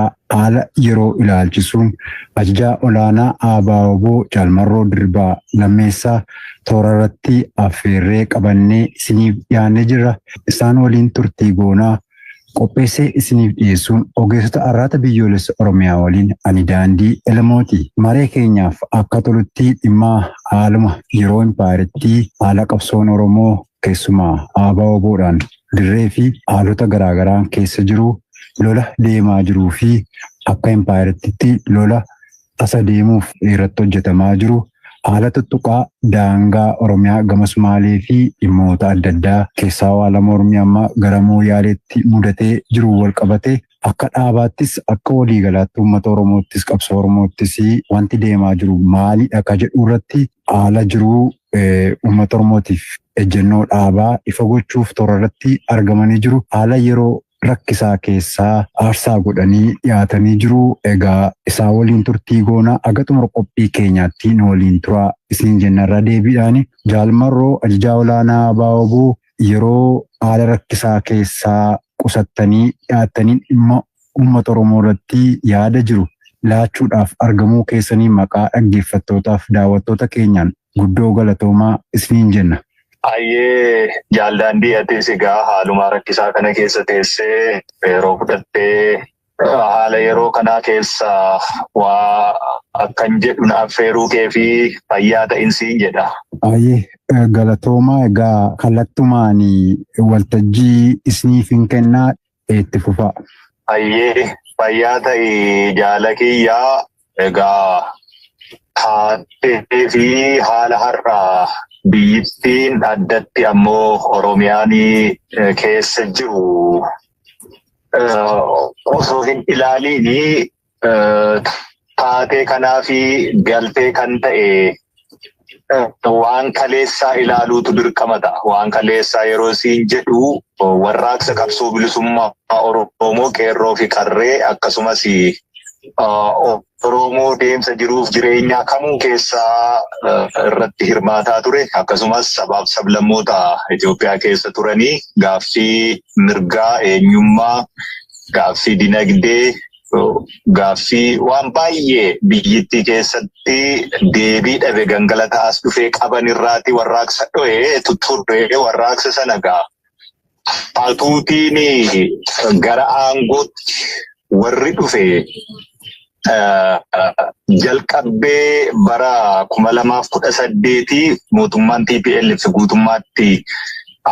Itoophiyaa haala yeroo ilaalchisuun Ajajaa Olaanaa ABO-wbo Jaal Marroo Dirribaa Lammeessaa toorarratti affeerree qabannee isiniif dhiyaannee jirra. Isaan waliin turtii goona. Qopheessee isiniif dhiyeessuun ogeessota Arraata Biyyoolessa Oromiyaa waliin ani Daandii Elemooti. Maree keenyaaf akka tolutti dhimma haaluma yeroo impaayerittii, haala qabsoon Oromoo, Keessumaa ABO-wbo dhaan dirree fi haalota garaa garaan keessa jiru, lola deemaa jiruu fi akka impaayerattiitti lola tasa deemuuf irratti hojjetamaa jiru, haala tuttuqaa daangaa Oromiyaa gama Sumaalee fi dhimmoota adda addaa, keessaa haala mormii amma gara Mooyaaleetti mudatee jiruun wal qabatee, Akka dhaabaattis, akka waliigalaatti uummata Oromoottis, qabsoo Oromoottis wanti deemaa jiru maalidha ka jedhu irratti haala jiru uummata Oromootiif ejjennoo dhaabaa ifa gochuuf toora irratti argamanii jiru. Haala yeroo rakkisaa keessaa aarsaa godhanii dhiyaatanii jiru. Egaa isaa waliin turtii goona aga xumura qophii keenyaatti nu waliin turaa isiniin jenna irra deebiidhaani. Jaal Marroo ajajaa olaanaa Abaawaboo yeroo haala rakkisaa keessaa qusattanii dhiyaattaniin dhimma uummata Oromoo irratti yaada jiru laachuudhaaf argamuu keessaniin maqaa dhaggeeffattootaaf daawwattoota keenyaan guddoo galatoomaa isiniin jenna. Hayyee Jaal Daandii atis egaa haalumaa rakkisaa kana keessa teessee yeroo fudhattee Haala yeroo kanaa keessa waa akkan jedhu na affeeruu kee fi fayyaa ta'insiin jedha. Ayyee galatoomaa egaa kallattumaan waltajjii isiniif hin kennaa itti fufaa. Ayyee fayyaa ta'i jaala kiyyaa Egaa taatee fi haala har'aa biyyittiin addatti ammoo Oromiyaan keessa jiru osoo hin ilaaliin taatee kanaa fi galtee kan ta'e waan kaleessaa ilaaluutu dirqama ta'a. Waan kaleessaa yeroo siin jedhu warraaqsa qabsoo bilisummaa Oromoo qeerroo fi qarree akkasumas Oromoo deemsa jiruuf jireenyaa kamuu keessaa irratti hirmaataa ture akkasumas sabaaf sablammoota Itoophiyaa keessa turanii gaaffii mirgaa eenyummaa gaaffii dinagdee gaaffii waan baay'ee biyyittii keessatti deebii dhabe gangalata as dhufee qaban irraati warraaqsa dho'ee tutturre warraaqsa sana gaa hatuutiin gara aangootti warri dhufe jalqabbee bara kuma lamaaf kudha saddeetii mootummaan TPLF guutummaatti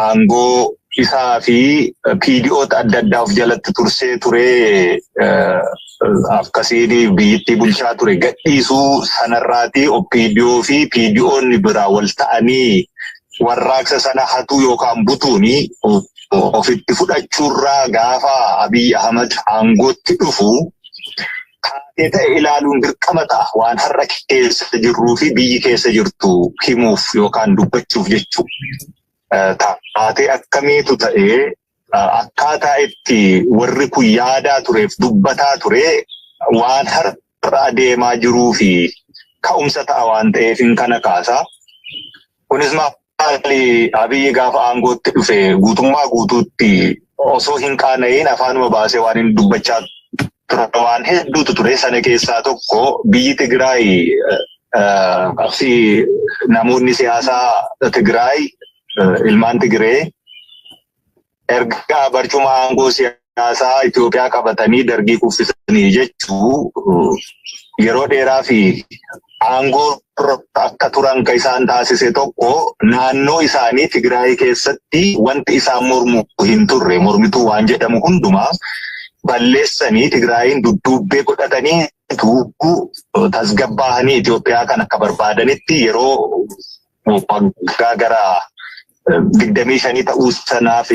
aangoo isaa fi PDOta adda addaa of jalatti tursee ture akkasiin biyyittii bulchaa ture gadhiisuu sanarraati OPDO fi PDOn biraa wal ta'anii warraaqsa sana hatuu yookaan butuun ofitti fudhachuurraa gaafa Abiy Ahmad aangootti dhufu taatee ta'e ilaaluun dirqama ta'a waan har'a keessa jirruu fi biyyi keessa jirtu himuuf yookaan dubbachuuf jechuu taatee akkamiitu ta'ee akkaataa itti warri kun yaadaa tureef dubbataa ture waan har'a adeemaa jiruu fi ka'umsa ta'a waan ta'eef hin kana kaasaa. Kunis maali Abiyyi gaafa aangootti dhufe guutummaa guutuutti osoo hin qaana'iin afaanuma baasee waan inni dubbachaa ture waan hedduutu ture. Sana keessaa tokko biyyi Tigraay qabsii namoonni siyaasaa Tigraay ilmaan Tigree erga barcuma aangoo siyaasaa Itoophiyaa qabatanii dargii kuffisanii jechuu yeroo dheeraa fi aangoo akka turan kan isaan taasise tokko naannoo isaanii Tigraay keessatti wanti isaan mormu hin turre mormituu waan jedhamu hundumaa balleessanii Tigraayiin dudduubbee godhatanii tasgabbaa'anii Itoophiyaa kan akka barbaadanitti yeroo waggaa gara digdamii shanii ta'uu sanaaf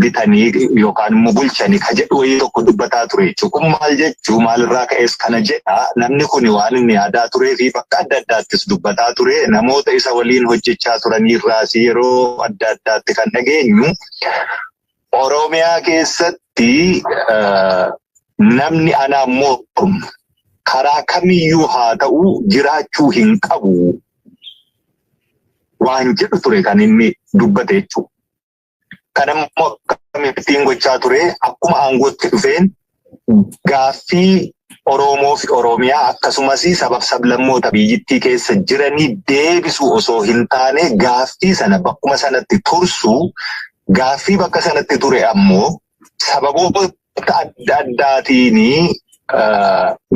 bitanii yookaan immoo bulchanii ka jedhu wayii tokko dubbataa ture jechuudha. Kun maal jechuu maalirraa ka'es kana jedha namni kun waan inni yaadaa turee fi bakka adda addaattis dubbataa ture namoota isa waliin hojjechaa turaniirraas yeroo adda addaatti kan dhageenyu Oromiyaa keessatti namni anaa mormu karaa kamiyyuu haa ta'u jiraachuu hin qabu waan jedhu ture kan inni dubbate jechuudha. Kan immoo akkamittiin gochaa ture akkuma aangootti dhufeen gaaffii Oromoo fi Oromiyaa akkasumas sabab sablammoota biyyittii keessa jiranii deebisuu osoo hin taane gaaffii sana bakkuma sanatti tursuu gaaffii bakka sanatti ture ammoo sababoota adda addaatiin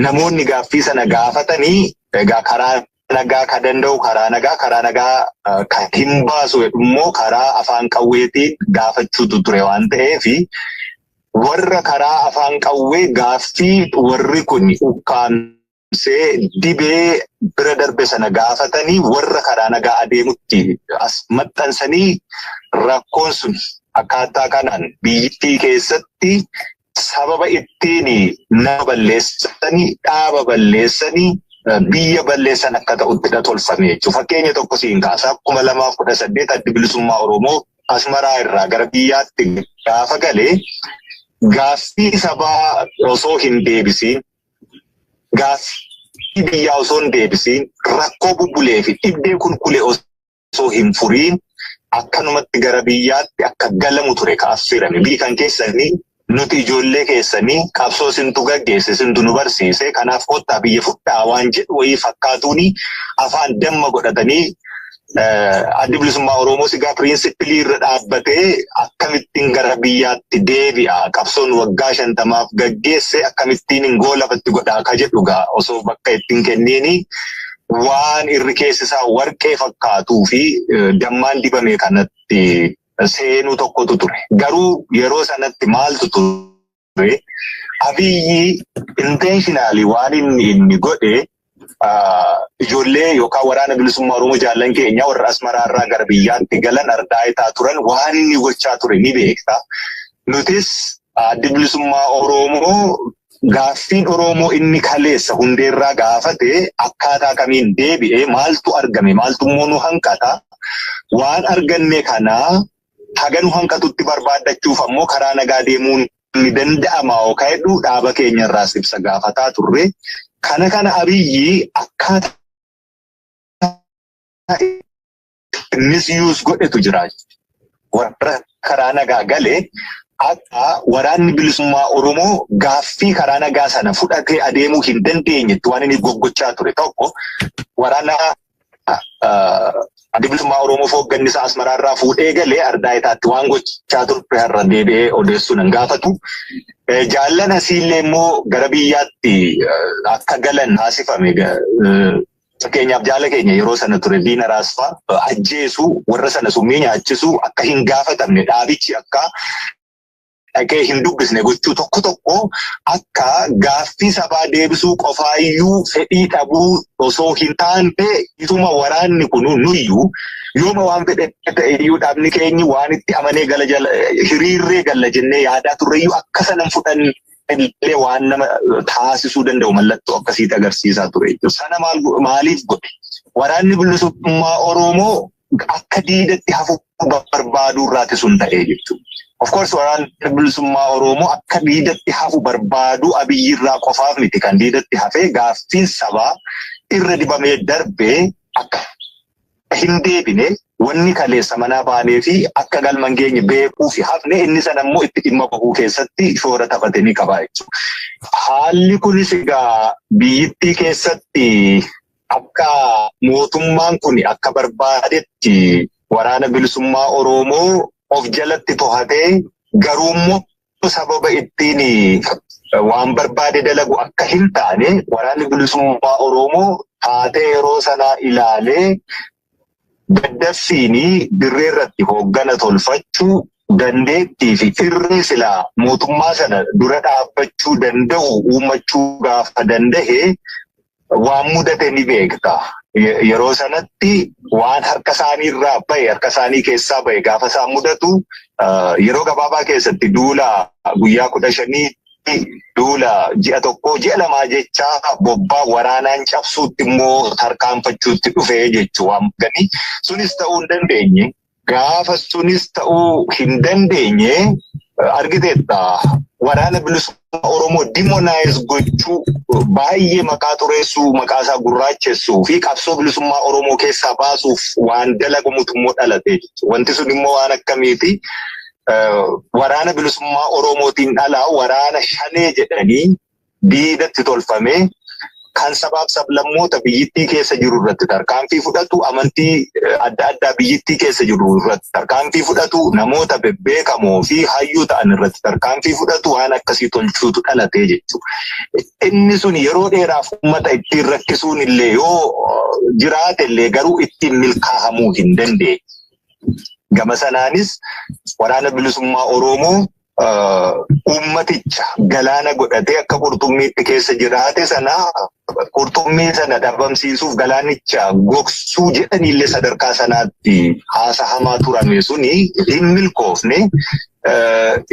namoonni gaaffii sana gaafatanii egaa karaa nagaa ka danda'u karaa nagaa karaa nagaa eh, ka hin baasu jedhu immoo karaa afaan qawweetiin gaafachuutu ture waan ta'eef warra karaa afaan qawwee gaaffii warri kun ukkaamsee dibee bira darbe sana gaafatanii warra karaa nagaa adeemutti as maxxansanii rakkoon sun akkaataa kanaan biyyittii keessatti sababa ittiin nama balleessanii dhaaba balleessanii biyya balleessan akka ta'utti dha tolfame jechuudha. Fakkeenya tokko siin kaasa kuma lamaaf kudha saddeet addi bilisummaa Oromoo Asmaraa irraa gara biyyaatti gaafa galee gaaffii sabaa osoo hin deebisiin gaaffii biyyaa osoo hin deebisiin rakkoo bubbulee fi dhibdee kulkulee osoo osoo hin furiin akkanumatti gara biyyaatti akka galamu ture ka affeerame. Biyyi kan keessanii nuti ijoollee keessanii qabsoo isintu gaggeesse isintu nu barsiise kanaaf kottaa biyya fudhaa waan jedhu wayii fakkaatuuni afaan damma godhatanii addi bilisummaa Oromoo sigaa piriinsippilii irra dhaabbatee akkamittiin gara biyyaatti deebi'a qabsoon waggaa shantamaaf gaggeesse akkamittiin hin goolabatti godhaa ka jedhu gaa osoo bakka ittiin kenniini waan irri keessi isaa warqee fakkaatuu fi dammaan dibame kanatti seenuu tokkotu ture. Garuu yeroo sanatti maaltu ture? Abiyyi intentionally waan inni inni godhe ijoollee yookaan waraana bilisummaa Oromoo jaallan keenya warra Asmaraa irraa gara biyyaatti galan ardaa itaa turan waan inni gochaa ture ni beekta. Nutis Addi bilisummaa Oromoo gaaffiin Oromoo inni kaleessa hundeerraa gaafate akkaataa kamiin deebi'ee maaltu argame maaltu immoo nu hanqata waan arganne kanaa haga nu hanqatutti barbaaddachuuf ammoo karaa nagaa deemuun ni danda'ama yookaan hedduu dhaaba keenyarraas ibsa gaafataa turre. Kana kana abiyyi akkaataa misuse godhetu jira. Warra karaa nagaa galee akka waraanni bilisummaa Oromoo gaaffii karaa nagaa sana fudhatee adeemuu hin dandeenyetti waan inni goggochaa ture tokko waraana adda bilisummaa Oromoo hoogganni isaa Asmaraa irraa fuudhee galee ardaa itaatti waan gochaa turte har'a deebi'ee odeessuu nan gaafatu. Jaallan asiillee immoo gara biyyaatti akka galan taasifame Fakkeenyaaf jaala keenya yeroo sana ture diina raasfaa ajjeesu warra sana summii nyaachisu akka hin gaafatamne dhaabichi akka dhaqee hin dubbisne gochuu tokko tokko akka gaaffii sabaa deebisuu qofaayyuu fedhii dhabuu osoo hin taane ituma waraanni kun nuyyuu yooma waan fedhe ta'eyyuu dhaabni keenyi waan itti amanee gala hiriirree galla jennee yaadaa turreyyuu akka sanan fudhanne illee waan nama taasisuu danda'u mallattoo akkasiitti agarsiisaa ture jechuudha. Sana maaliif godhe? Waraanni bilisummaa Oromoo akka diidatti hafuu barbaaduu irraati sun ta'ee jechuudha. Of course waraanni bilisummaa Oromoo akka diidatti hafu barbaaduu abiyyi irraa qofaaf miti kan diidatti hafee gaaffiin sabaa irra dibamee darbee akka hin deebine wanni kaleessa manaa baanee fi akka galma hin geenye beekuu fi hafne inni sana immoo itti dhimma bahuu keessatti shoora taphate ni qaba jechuudha. Haalli kunis egaa biyyittii keessatti akka mootummaan kun akka barbaadetti waraana bilisummaa Oromoo of jalatti tohatee garuummoo sababa ittiin waan barbaade dalagu akka hin taane waraanni bilisummaa Oromoo taatee yeroo sanaa ilaalee daddaffiin dirree irratti hooggana tolfachuu dandeettii fi irree silaa mootummaa sana dura dhaabbachuu danda'u uummachuu gaafa danda'e waan mudate ni beekta. Yeroo sanatti waan harka isaanii irraa bahe harka isaanii keessaa bahe gaafa isaan mudatu yeroo gabaabaa keessatti duula guyyaa kudha shanii duula ji'a tokkoo ji'a lamaa jechaa bobbaa waraanaan cabsuutti immoo tarkaanfachuutti dhufe jechuu waan gani sunis ta'uu hin dandeenye. Gaafa sunis ta'uu hin dandeenye argiteetta waraana bilisummaa Oromoo dimonaayiz gochuu baay'ee maqaa xureessuu maqaa isaa gurraachessuu fi qabsoo bilisummaa Oromoo keessaa baasuuf waan dalagamutu immoo dhalate jechuudha. Wanti sun immoo waan akkamiiti waraana bilisummaa Oromootiin dhalaa waraana shanee jedhanii diinatti tolfamee kan sabaaf sablammoota biyyittii keessa jiru irratti tarkaanfii fudhatu amantii adda addaa biyyittii keessa jiru irratti tarkaanfii fudhatu namoota bebbeekamoo fi hayyuu ta'an irratti tarkaanfii fudhatu waan akkasii tolchuutu dhalatee jechuudha. Inni sun yeroo dheeraaf uummata ittiin rakkisuun illee yoo jiraate illee garuu ittiin milkaa'amuu hin dandeenye. Gama sanaanis waraana bilisummaa Oromoo uummaticha galaana godhatee akka qurxummiitti keessa jiraate sana qurxummii sana dhabamsiisuuf galaanicha gogsuu jedhaniillee sadarkaa sanaatti haasahamaa turame suni hin milkoofne.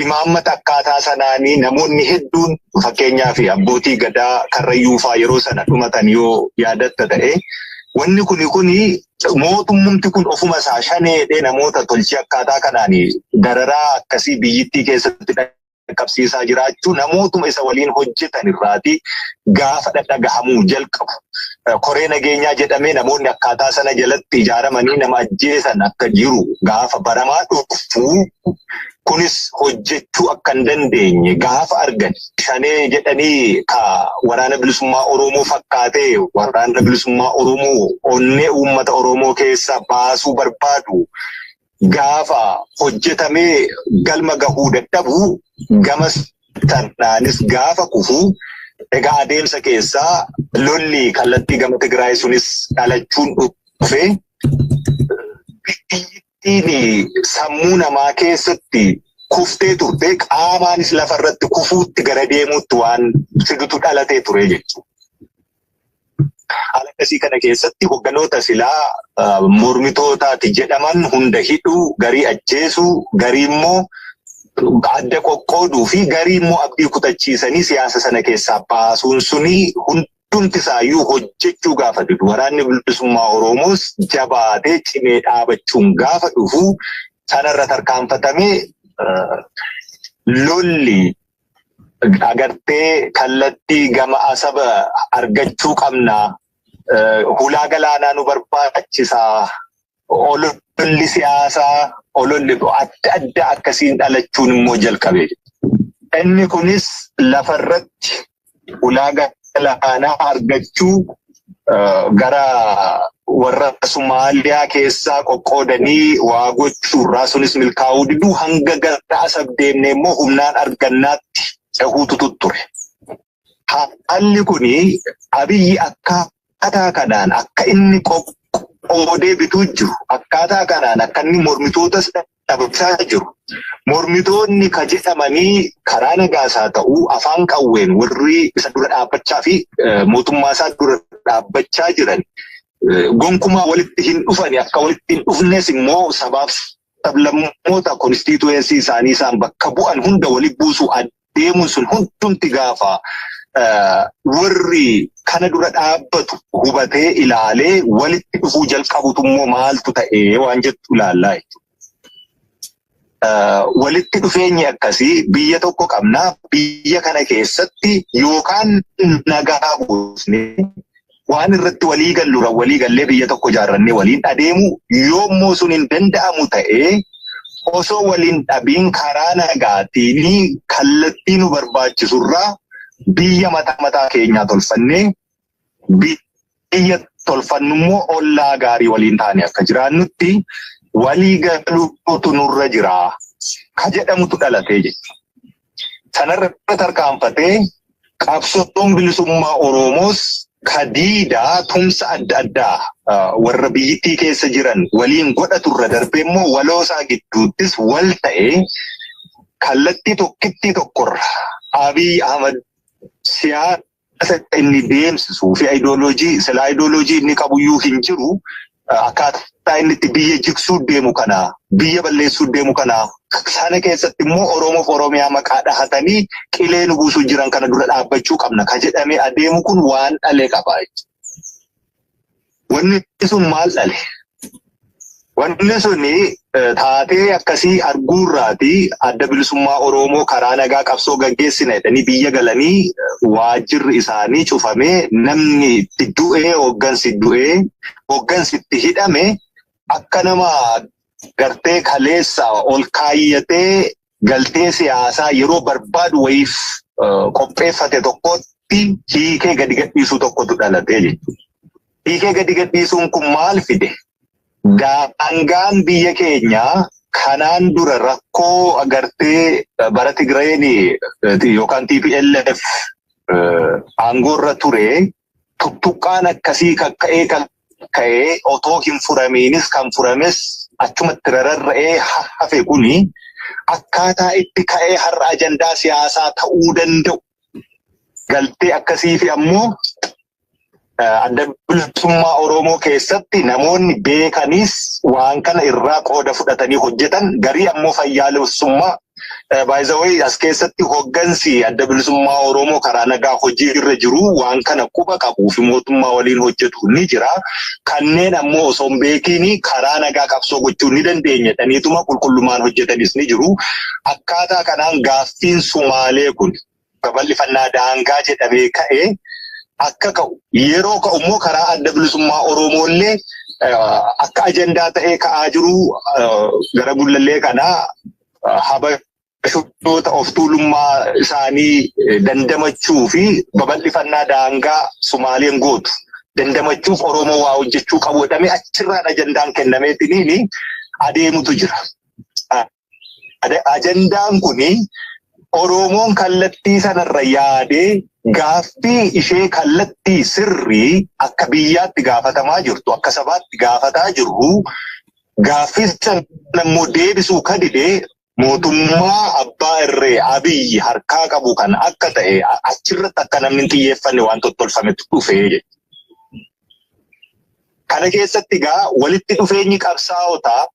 Imaammata akkaataa sanaanii namoonni hedduun fakkeenyaaf abbootii gadaa karrayyuufaa yeroo sana dhumatan yoo yaadatta ta'e wanni kuni kuni mootummumti kun ofuma isaa shaneedhee namoota tolchee akkaataa kanaan dararaa akkasii biyyittii keessatti dhaqqabsiisaa jiraachuu namootuma isa waliin hojjetan irraati gaafa dhadhagahamuu jalqabu. Koree nageenyaa jedhamee namoonni akkaataa sana jalatti ijaaramanii nama ajjeesan akka jiru gaafa baramaa dhufu Kunis hojjechuu akka hin dandeenye gaafa argan shanee jedhanii ka waraana bilisummaa Oromoo fakkaatee waraana bilisummaa Oromoo onnee uummata Oromoo keessa baasuu barbaadu gaafa hojjetamee galma gahuu dadhabu gamas tanaanis gaafa kufu egaa adeemsa keessaa lolli kallattii gama Tigraay sunis dhalachuun dhufe Dandeettii fi sammuu namaa keessatti kuftee turtee qaamaanis lafa irratti kufuutti gara deemuutti waan fidutu dhalatee ture jechuudha. Haala akkasii kana keessatti hogganoota silaa ah, mormitootaati jedhaman hunda hidhuu, garii ajjeesuu, garii immoo adda qoqqooduu fi garii immoo abdii kutachiisanii siyaasa sana keessaa baasuun suni hunda hundumti isaayyuu hojjechuu gaafa didu waraanni bilisummaa Oromoos jabaatee cimee dhaabachuun gaafa dhufu sanarra tarkaanfatamee lolli agartee kallattii gama asaba argachuu qabna hulaa galaanaa nu barbaachisaa ololli siyaasaa ololli adda addaa akkasiin dhalachuun immoo jalqabe. Inni kunis lafarratti ulaa galaanaa argachuu gara warra Somaaliyaa keessaa qoqqoodanii waa gochuurraa sunis milkaa'uu diduu hanga gara asab deemne immoo humnaan argannaatti cehuutu tutture. Haalli kun abiyyi akkaataa kanaan akka inni qoqqoodee bituu jiru akkaataa kanaan akka inni mormitootas dhabamsaa jiru. Mormitoonni ka jedhamanii karaa nagaas haa ta'u afaan qawween warri isa dura dhaabbachaa fi mootummaa isaa dura dhaabbachaa jiran gonkumaa walitti hin dhufani akka walitti hin dhufnes immoo sabaaf sablammoota konstiituweensii isaanii isaan bakka bu'an hunda walitti buusuu deemuun sun hundumti gaafa warri kana dura dhaabbatu hubatee ilaalee walitti dhufuu jalqabutu immoo maaltu ta'ee waan jettu ilaallaa jechuudha. Walitti dhufeenyi akkasii biyya tokko qabna biyya kana keessatti yookaan nagaa buusnee waan irratti walii galluudhaan walii gallee biyya tokko ijaarrannee waliin adeemuu yoommoo sun hin danda'amu ta'ee osoo waliin dhabiin karaa nagaatiin kallattii nu barbaachisurraa biyya mataa mataa keenyaa tolfannee biyya tolfannu immoo ollaa gaarii waliin taane akka jiraannutti walii galuutu nurra jira ka jedhamutu dhalatee jechuudha. Sanarra tarkaanfatee qabsoon bilisummaa Oromoos kadiidaa tumsa adda addaa warra biyyittii keessa jiran waliin godhatu irra darbee immoo waloosaa gidduuttis wal ta'ee kallattii tokkittii tokkorra Abiy Ahmad siyaasa Siyaasa inni deemsisuu fi ayidooloojii sila ayidooloojii inni qabuyyuu hin jiru akkaataa inni itti biyya jigsuu deemu kana biyya balleessuu deemu kana sana keessatti immoo Oromoof Oromiyaa maqaa dhahatanii qilee nu buusuu jiran kana dura dhaabbachuu qabna ka jedhamee adeemu kun waan dhale qaba. Wanni sun maal dhale? Wanni sun taatee akkasii arguurraati adda bilisummaa Oromoo karaa nagaa qabsoo gaggeessina jedhanii biyya galanii waajjirri isaanii cufamee namni itti du'ee hooggansi du'ee hooggansi itti hidhame akka nama gartee kaleessa ol kaayyatee galtee siyaasaa yeroo barbaadu wayiif qopheeffate tokkotti hiikee gadi gadhiisuu tokkotu dhalatee jechuudha. Hiikee gadi gadhiisuun kun maal fide? Daangaan biyya keenyaa kanaan dura rakkoo agartee bara Tigrayeen yookaan TPLF aangoorra ture Tuttuqqaan akkasii kan ka'ee kan ka'ee otoo hin furamiinis kan furames achumatti rararra'ee hafe kuni akkaataa itti ka'ee har'a ajandaa siyaasaa ta'uu danda'u galtee akkasii fi ammoo adda bilisummaa Oromoo keessatti namoonni beekanis waan kana irraa qooda fudhatanii hojjetan garii ammoo fayyaalessummaa Baay'isawwan as keessatti hoggansi adda bilisummaa Oromoo karaa nagaa hojii irra jiru waan kana quba qabuu fi mootummaa waliin hojjetu ni jira. Kanneen ammoo osoo hin beekiin karaa nagaa qabsoo gochuu ni dandeenya jedhaniituma qulqullummaan hojjetanis ni jiru. Akkaataa kanaan gaaffiin Sumaalee kun babal'ifannaa daangaa jedhamee ka'e akka ka'u yeroo ka'u immoo karaa adda bilisummaa Oromoo illee akka ajandaa ta'ee ka'aa jiru gara gullallee kanaa habashoota of tuulummaa isaanii dandamachuu fi babal'ifannaa daangaa Sumaaleen gootu dandamachuuf Oromoo waa hojjechuu qabu jedhamee achirraan ajandaan kennameetiniin adeemutu jira. Ada- Ajandaan kun Oromoon kallattii sanarra yaadee gaaffii ishee kallattii sirrii akka biyyaatti gaafatamaa jirtu akka sabaatti gaafataa jirru gaaffii sana immoo deebisuu ka dide mootummaa abbaa irree abiyyi harkaa qabu kan akka ta'e a- achirratti akka namni hin xiyyeeffanne waan tottolfametu dhufe jechuudha. Kana keessatti egaa walitti dhufeenyi qabsaa'otaa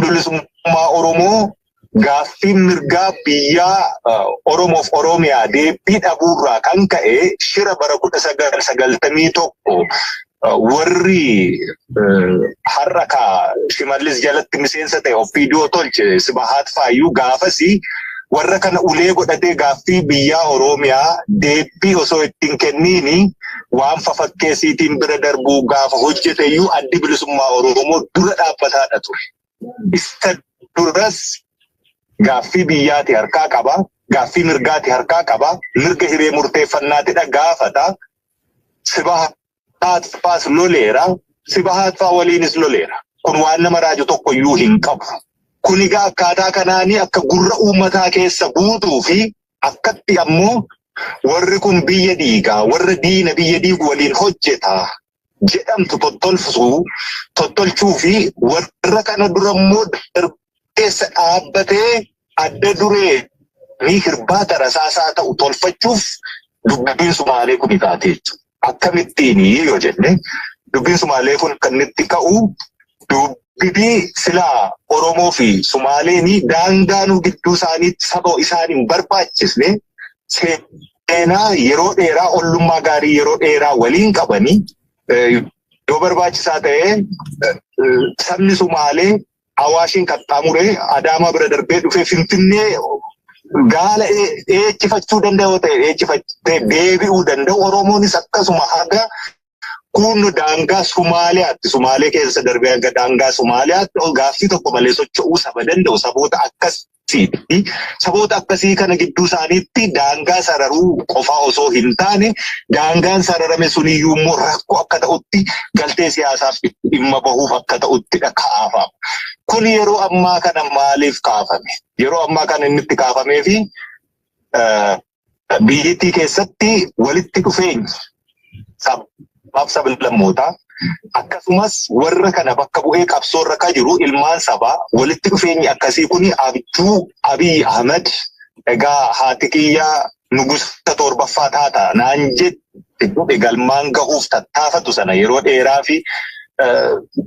bilisummaa Oromoo gaaffiin mirgaa biyyaa Oromoof Oromiyaa deebii dhabuurraa kan ka'e shira bara kudha sagal sagaltamii tokko warri har'a ka shimallis jalatti miseensa ta'e ofiidoo tolche sibahaat faayyuu gaafasi warra kana ulee godhatee gaaffii biyyaa Oromiyaa deebii osoo ittiin kenniini waan fafakkeessiitiin bira darbuu gaafa hojjete iyyuu addi bilisummaa Oromoo dura dhaabbataadha ture. Isa duras gaaffii biyyaati harkaa qaba, gaaffii mirgaati harkaa qaba, mirga hiree murteeffannaatidha gaafata. Sibahaat faas loleera, sibahaat faa waliinis loleera. Kun waan nama raaju tokko iyyuu hin qabu. Kun egaa akkaataa kanaanii akka gurra uummataa keessa buutuu fi akkatti ammoo warri kun biyya diigaa warra diina biyya diigu waliin hojjeta jedhamtu tottolfsuu tottolchuu fi warra kana dura immoo darbeessa dhaabbatee adda duree ni hirbaata rasaasaa ta'u tolfachuuf dubbiin sumaalee kun taatee jechuudha. Akkamittiini yoo jenne dubbiin Sumaalee kun kan itti ka'u dubbii silaa Oromoo fi Sumaaleen daangaa nu gidduu isaaniitti saba isaan hin barbaachisne seenaa yeroo dheeraa ollummaa gaarii yeroo dheeraa waliin qabanii yoo barbaachisaa ta'ee sabni Sumaalee Awaashiin qaxxaamuree Adaamaa bira darbee dhufee Finfinnee gaala eechifachuu danda'u yoo ta'e eechifattee deebi'uu danda'u Oromoonis akkasuma haga kun daangaa Sumaaliyaatti Sumaalee keessa darbee hanga daangaa Sumaaliyaatti gaaffii tokko malee socho'uu saba danda'u saboota akkas fi saboota akkasii kana gidduu isaaniitti daangaa sararuu qofaa osoo hin taane daangaan sararame suniyyuu immoo rakkoo akka ta'utti galtee siyaasaaf dhimma bahuuf akka ta'uttidha kaafama. Kun yeroo ammaa kana maaliif kaafame? Yeroo ammaa kana inni itti kaafamee fi Biyyittii keessatti walitti dhufeenyi sabaaf sablammootaa akkasumas warra kana bakka bu'ee qabsoo irra kan jiru ilmaan sabaa walitti dhufeenyi akkasii kun abjuu Abiy Ahmed egaa haati kiyyaa nugusa torbaffaa taata naan jette jedhe galmaan gahuuf tattaafatu sana yeroo dheeraa fi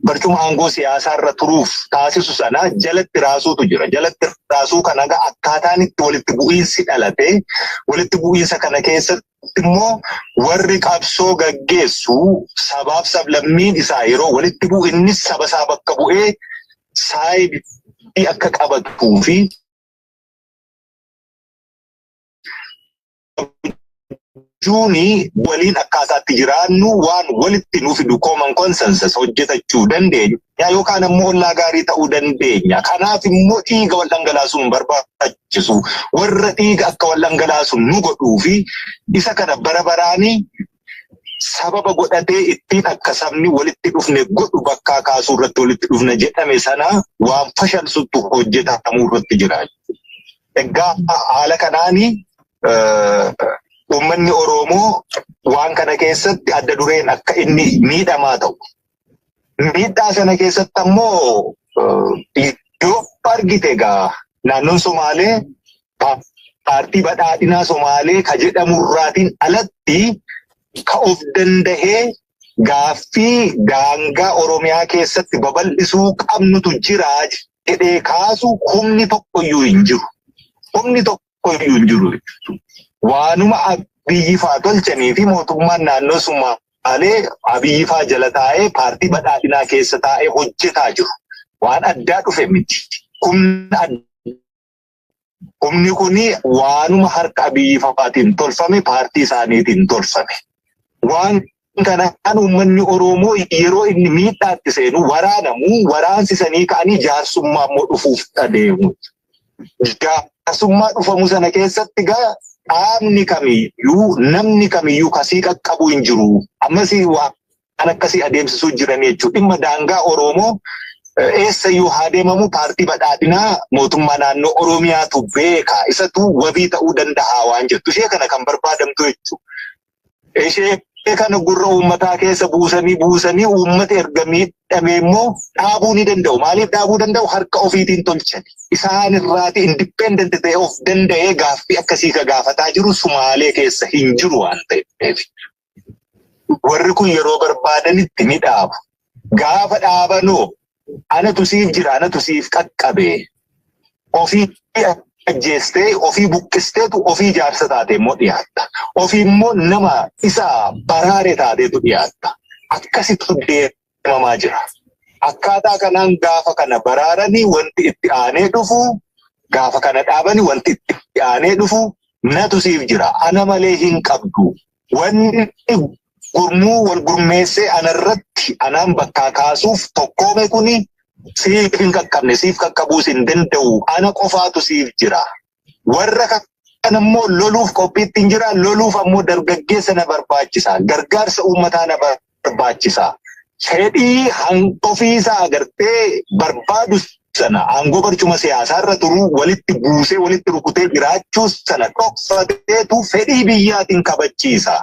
barcuma aangoo siyaasaa irra turuuf taasisu sana jalatti raasuutu jira. Jalatti raasuu kana egaa akkaataan itti walitti bu'iinsi dhalate walitti bu'iinsa kana keessatti immoo warri qabsoo gaggeessu sabaaf sablammiin isaa yeroo walitti bu'u innis saba isaa bakka bu'ee saayidii akka qabatuu fi hojjechuuni waliin akkaataatti jiraannu waan walitti nu fidu common consensus hojjetachuu dandeenya yookaan ammoo ollaa gaarii ta'uu dandeenya. Kanaaf immoo dhiiga wal dhangalaasuun hin barbaachisu. Warra dhiiga akka wal dhangalaasu nu godhuu fi isa kana bara baraanii sababa godhatee ittiin akka sabni walitti dhufne godhu bakkaa kaasuu irratti walitti dhufne jedhame sana waan fashalsuttu hojjetamuu irratti jira. Egaa haala kanaan uummanni Oromoo waan kana keessatti adda dureen akka inni miidhamaa ta'u Miidhaa sana keessatti ammoo iddoo argite egaa naannoon Somaalee paartii badhaadhinaa Somaalee ka jedhamurraatiin alatti ka of dandahee gaaffii daangaa Oromiyaa keessatti babal'isuu qabnutu jira jedhee kaasu humni tokkoyyuu hin jiru. Humni tokko tokkoyyuu hin jiru jechuudha. Waanuma Abiyyi faa tolchanii fi mootummaan naannoo Sumaalee Abiyyi faa jala taa'ee paartii badhaadhinaa keessa taa'ee hojjetaa jiru. Waan addaa dhufe miti. Humna addaa Humni kun waanuma harka Abiyyi fa'aatiin tolfame paartii isaaniitiin tolfame. Waan kanaan uummanni Oromoo yeroo inni miidhaatti seenu waraanamu waraansisanii ka'anii jaarsummaa immoo dhufuuf adeemu. Jaarsummaa dhufamu sana keessatti gaa qaamni kamiyyuu namni kamiyyuu kasii qaqqabu hin jiru. Ammas waan akkasii adeemsisuu jiran jechuudha. Dhimma daangaa Oromoo eessa yoo haa deemamu paartii badhaadhinaa mootummaa naannoo Oromiyaatu beeka. Isatu wabii ta'uu danda'a waan jettu. Ishee kana kan barbaadamtu jechuudha. Ishee kana gurra uummataa keessa buusanii buusanii uummata erga miidhamee immoo dhaabuu ni danda'u. Maaliif dhaabuu danda'u? Harka ofiitiin tolchan. Isaan irraati independent ta'e of danda'ee gaaffii akkasii ka gaafataa jiru Sumaalee keessa hin jiru waan ta'eef. Warri kun yeroo barbaadanitti ni dhaabu. gaafa dhaabanu anatu siif jira anatu siif qaqqabe ofii ajjeestee ofii buqqisteetu ofii jaarsa taate immoo dhiyaatta ofii immoo nama isa baraare taateetu dhiyaatta akkasitu deemamaa jira akkaataa kanaan gaafa kana baraaranii wanti itti aanee dhufu gaafa kana dhaabanii wanti itti aanee dhufu natu siif jira ana malee hin qabdu Wanni gurmuu wal gurmeessee anarratti anaan bakkaa kaasuuf tokkoome kuni siif hin qaqqabne siif qaqqabuus hin danda'u ana qofaatu siif jira. Warra kan ammoo loluuf qophiitti hin jira loluuf ammoo dargaggeessa na barbaachisa gargaarsa uummataa na barbaachisa. barbaachisa. Fedhii ofiisaa agartee barbaadu sana aangoo barcuma siyaasaa irra turuu walitti buusee walitti rukutee jiraachuu sana dhoksateetu fedhii biyyaatiin kabachiisa.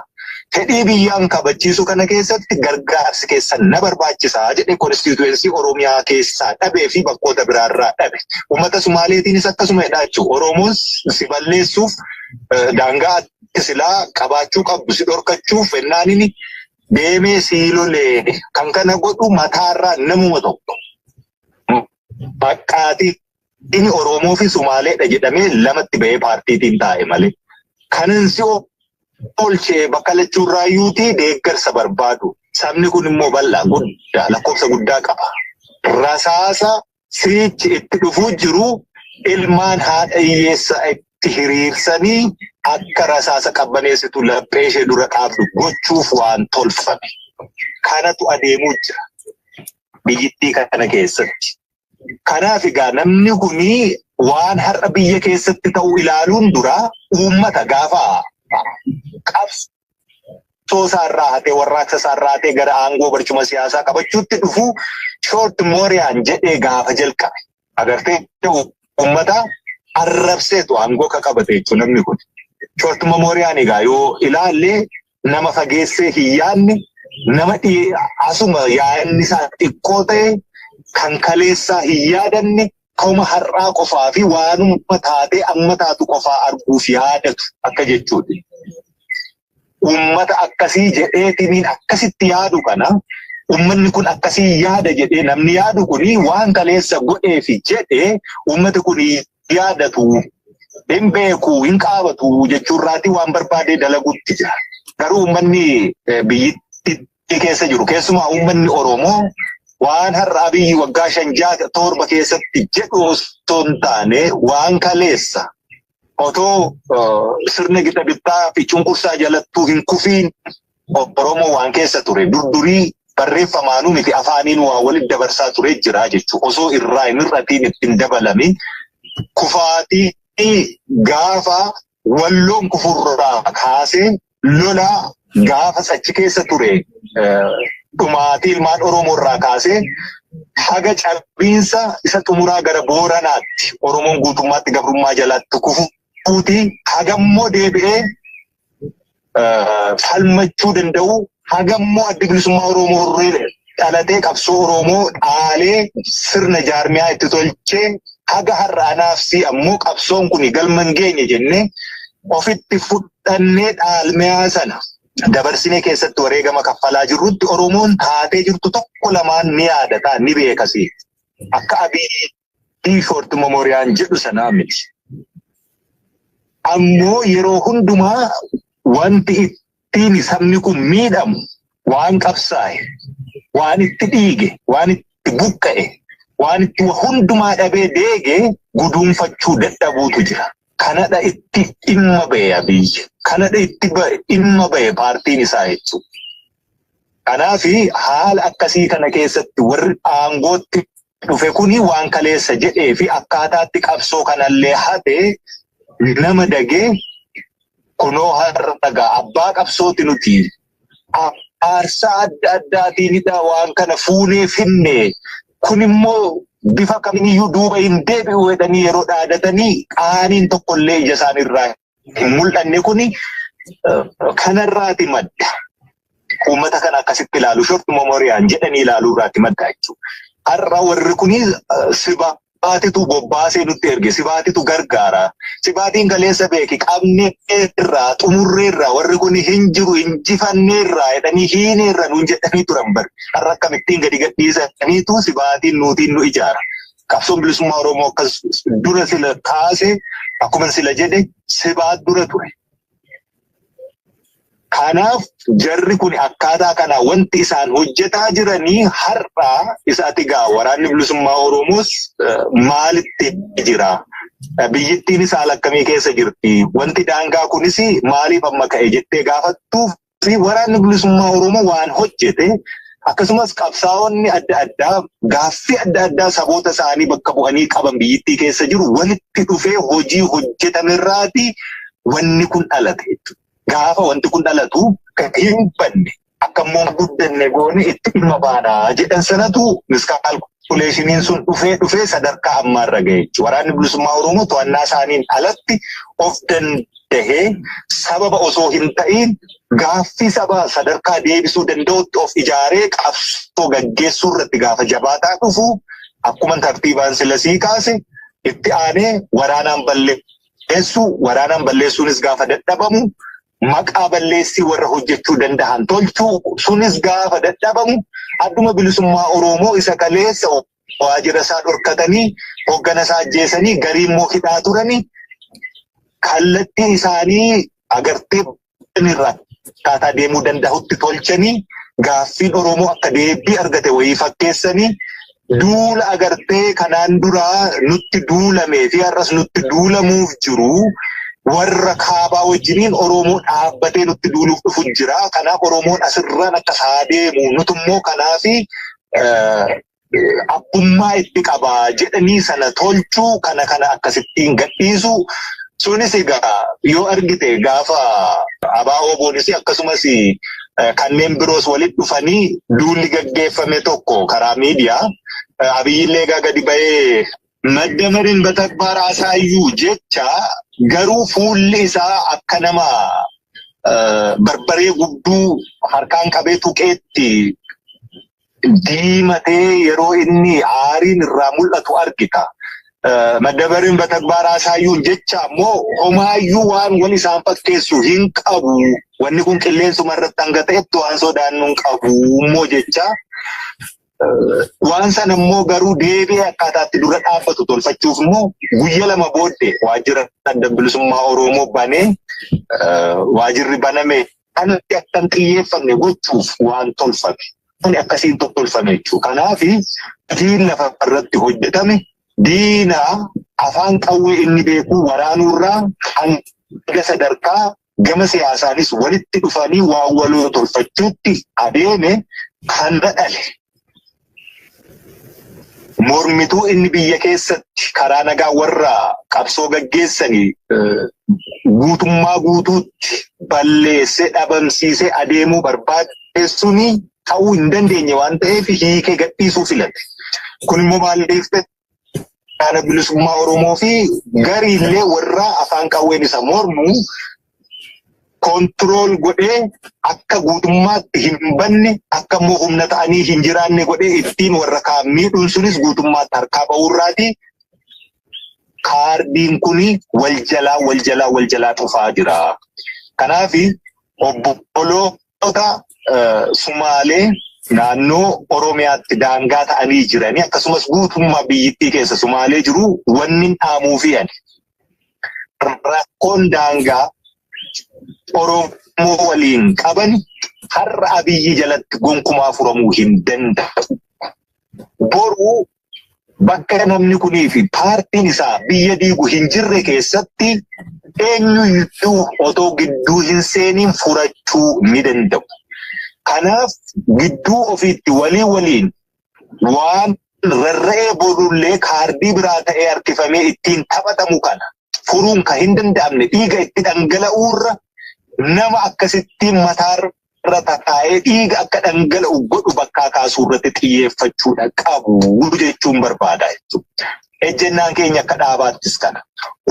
Fedhii biyyaan kabachiisu kana keessatti gargaarsi keessan na barbaachisa jedhe konstituensii Oromiyaa keessaa dhabee fi bakkoota biraarraa dhabe. Uummata Sumaaleetiinis akkasuma jedhaa jechuudha. Oromoon si balleessuuf daangaa silaa qabaachuu qabdu si dhorkachuuf fennaanini deemee sii loleene kan kana godhu mataarraa namuma tokko baqqaatii inni Oromoo fi Sumaaleedha jedhamee lamatti bahee paartiitiin taa'e malee kanan si oolchee bakka lachuurraa yuutii deeggarsa barbaadu sabni kun immoo bal'aa guddaa lakkoofsa guddaa qaba rasaasa siriichi itti dhufuu jiru ilmaan haadha hiyyeessaa itti hiriirsanii akka rasaasa qabbaneessitu laphee ishee dura dhaabdu gochuuf waan tolfame. Kanatu adeemuu jira biyyittii kana keessatti. Kanaaf egaa namni kun waan har'a biyya keessatti ta'u ilaaluun dura uummata gaafa qabsu qabsoo isaa irraa hatee warraaqsa isaa irraa hatee gara aangoo barcuma siyaasaa qabachuutti dhufuu shoort mooriyaan jedhee gaafa jalqabe agartee uummata arrabseetu aangoo ka qabate jechuun namni kun. Shoort mooriyaan egaa yoo ilaalle nama fageessee hin yaadne nama dhiyee asuma yaadni isaa xiqqoo ta'e kan kaleessaa hin yaadanne Akkuma har'aa qofaa fi waanuma taatee amma taatu qofaa arguuf yaadatu akka jechuuti. Uummata akkasii jedheetiniin akkasitti yaadu kana uummanni kun akkasii yaada jedhee namni yaadu kun waan kaleessa godhee fi jedhee uummati kun yaadatu hin beeku hin qaabatu jechuurraati waan barbaadee dalaguutti jira. Garuu uummanni biyyittitti keessa jiru keessumaa uummanni Oromoo waan har'a abiyyi waggaa shan ja'a torba keessatti jedhu osoo hin taane waan kaleessa otoo eh, sirna gita bittaa fi cunqursaa jalattuu hin kufiin Oromoo waan keessa ture durdurii barreeffamaanuu miti afaaniin waa walitti dabarsaa ture jira jechuudha. Osoo irraa hin hir'atiin itti hin dabalamin kufaatii gaafa Walloon kufurraa kaasee lola gaafas achi keessa ture dhumaatii ilmaan Oromoo irraa kaasee haga cabiinsa isa xumuraa gara Booranaatti Oromoon guutummaatti gabrummaa jalatti kufuuti hagammoo deebi'ee falmachuu danda'u hagammoo addi bilisummaa Oromoo irree dhalatee qabsoo Oromoo dhaalee sirna jaarmiyaa itti tolchee haga har'aa naafsii ammoo qabsoon kun galma hin geenye jennee ofitti fudhannee dhaalmiyaa sana dabarsinee keessatti wareegama kaffalaa jirrutti Oromoon taatee jirtu tokko lamaan ni yaadata ni beekasi. Akka Abiyyi Diifoort Momooriyaan jedhu sanaa miti. Ammoo yeroo hundumaa wanti ittiin sabni kun miidhamu waan qabsaa'e, waan itti dhiige, waan itti buqqa'e, waan itti wa hundumaa dhabee deege guduunfachuu dadhabuutu jira. Kanadha itti dhimma ba'e Abiyyi. Kanadha itti ba'e dhimma ba'e paartiin isaa jechuudha. Kanaaf haala akkasii kana keessatti warri aangootti dhufe kuni waan kaleessa jedhee fi akkaataatti qabsoo kanallee hate nama dagee kunoo har'a dhagaa abbaa qabsooti nuti aarsaa adda addaatiinidha waan kana fuunee finne kun immoo bifa kamiyyuu duuba hin deebi'u jedhanii yeroo dhaadatanii qaaniin tokkollee ija isaaniirraa hin mul'anne kuni kanarraati madda. Uummata kana akkasitti ilaalu shorti memoriyaan jedhanii ilaaluu irraatti madda jechuudha. Har'a warri kuni sibaa sibaatitu bobbaasee nutti erge sibaatitu gargaara sibaatiin galeessa beeki qabnee irraa xumurree irraa warri kun hin jiru injifannee irraa jedhanii hiinee irra nuun jedhanii turan bari har'a akkamittiin gadi gadhiisaniitu sibaatiin nuutiin nu ijaara Qabsoon bilisummaa Oromoo akkas dura sila kaase akkuma sila jedhe sibaa dura ture. Kanaaf jarri kun akkaataa kana wanti isaan hojjetaa jiranii har'aa isaati gaa waraanni bilisummaa Oromoos maalitti jira? Biyyittiin isaa akkamii keessa jirti? Wanti daangaa kunis maaliif amma ka'e jettee gaafattuuf Waraanni bilisummaa Oromoo waan hojjete akkasumas qabsaa'onni adda addaa gaaffii adda addaa saboota isaanii bakka bu'anii qaban biyyittii keessa jiru walitti dhufee hojii hojjetame irraati wanni kun dhalate jechuudha. Gaafa wanti kun dhalatu kan hin banne akka immoo guddanne goone itti dhimma baana jedhan sanatu miskaal kuleeshiniin sun dhufee dhufee sadarkaa ammaarra ga'e jechuudha. Waraanni bilisummaa Oromoo to'annaa isaaniin alatti of danda'e. tahee sababa osoo hin ta'iin gaaffii sabaa sadarkaa deebisuu danda'utti of ijaaree qabsoo gaggeessuu irratti gaafa jabaataa dhufu akkuma tartiibaan sila sii kaase itti aanee waraanaan balleessuu waraanaan balleessuunis gaafa dadhabamu maqaa balleessii warra hojjechuu danda'an tolchuu sunis gaafa dadhabamu adduma bilisummaa Oromoo isa kaleessa waajjira isaa dhorkatanii hoggana isaa ajjeesanii garii immoo hidhaa turanii kallattii isaanii agartee irraa akkaataa deemuu danda'utti tolchanii gaaffiin Oromoo akka deebii argate wayii fakkeessanii duula agartee kanaan duraa nutti duulamee fi har'as nutti duulamuuf jiru warra kaabaa wajjiniin Oromoo dhaabbatee nutti duuluuf dhufu jira. Kanaaf Oromoon asirraan akka isaa deemu nutummoo kanaafi abbummaa itti qaba jedhanii sana tolchuu kana kana akkasittiin gadhiisuu sunis egaa yoo argite gaafa abaa oboonis akkasumas kanneen biroos walitti dhufanii duulli gaggeeffame tokko karaa miidiyaa abiyyillee egaa gadi ba'ee Maddamariin batagbaar asaayyuu jecha garuu fuulli isaa akka nama barbaree gudduu harkaan qabee tuqeetti diimatee yeroo inni aariin irraa mul'atu argita. Maddamariin batagbaar asaayyuu jecha ammoo homaayyuu waan wal isaan fakkeessu hin qabu. Wanni kun qilleensuma irratti hanga ta'etti waan sodaannu hin qabu immoo jecha Waan sana immoo garuu deebi'ee akkaataa itti dura dhaabbatu tolfachuuf immoo guyya lama booddee waajjira adda bilisummaa Oromoo banee eh, waajjirri baname kanatti akka hin xiyyeeffanne gochuuf waan tolfame. Kuni akkasiin to- tolfame jechuudha. Kanaaf diin lafa irratti hojjetame diina afaan qawwee inni beeku waraanuurraa hanga sadarkaa gama siyaasaanis walitti dhufanii waan waloo tolfachuutti adeeme kanna dhale. Mormituu inni biyya keessatti karaa nagaa warra qabsoo gaggeessanii guutummaa guutuutti balleessee dhabamsiisee adeemuu barbaadeessuun ta'uu hin dandeenye waan ta'eef hiikee gadhiisuu filate. Kun immoo maal deeftee Dhaala bilisummaa Oromoo fi gariillee warra afaan qawween isa mormu kontirool godhee akka guutummaatti hin banne akka immoo humna ta'anii hin jiraanne godhee ittiin warra kaan miidhuun sunis guutummaatti harkaa ba'uurraati. Kaardiin kun wal jalaa wal jalaa wal jalaa dhufaa jira. Kanaaf obboloota Sumaalee naannoo Oromiyaatti daangaa ta'anii jiranii akkasumas guutummaa biyyittii keessa Sumaalee jiru wanni dhaamuu fi ani rakkoon daangaa Oromoo waliin qaban har'a abiyyi jalatti gonkumaa furamuu hin danda'u. Boruu bakka namni kunii fi paartiin isaa biyya diigu hin jirre keessatti eenyuyyuu otoo gidduu hin seeniin furachuu ni danda'u. Kanaaf gidduu ofiitti walii waliin waan rarra'ee boodullee kaardii biraa ta'ee harkifamee ittiin taphatamu kana furuun kan hin danda'amne dhiiga itti dhangala'uurra nama akkasittiin mataarra irra tataa'ee dhiiga akka dhangala'u godhu bakkaa kaasuu irratti xiyyeeffachuudha qabu jechuun barbaada jechuudha. Ejjennaan keenya akka dhaabaattis kana.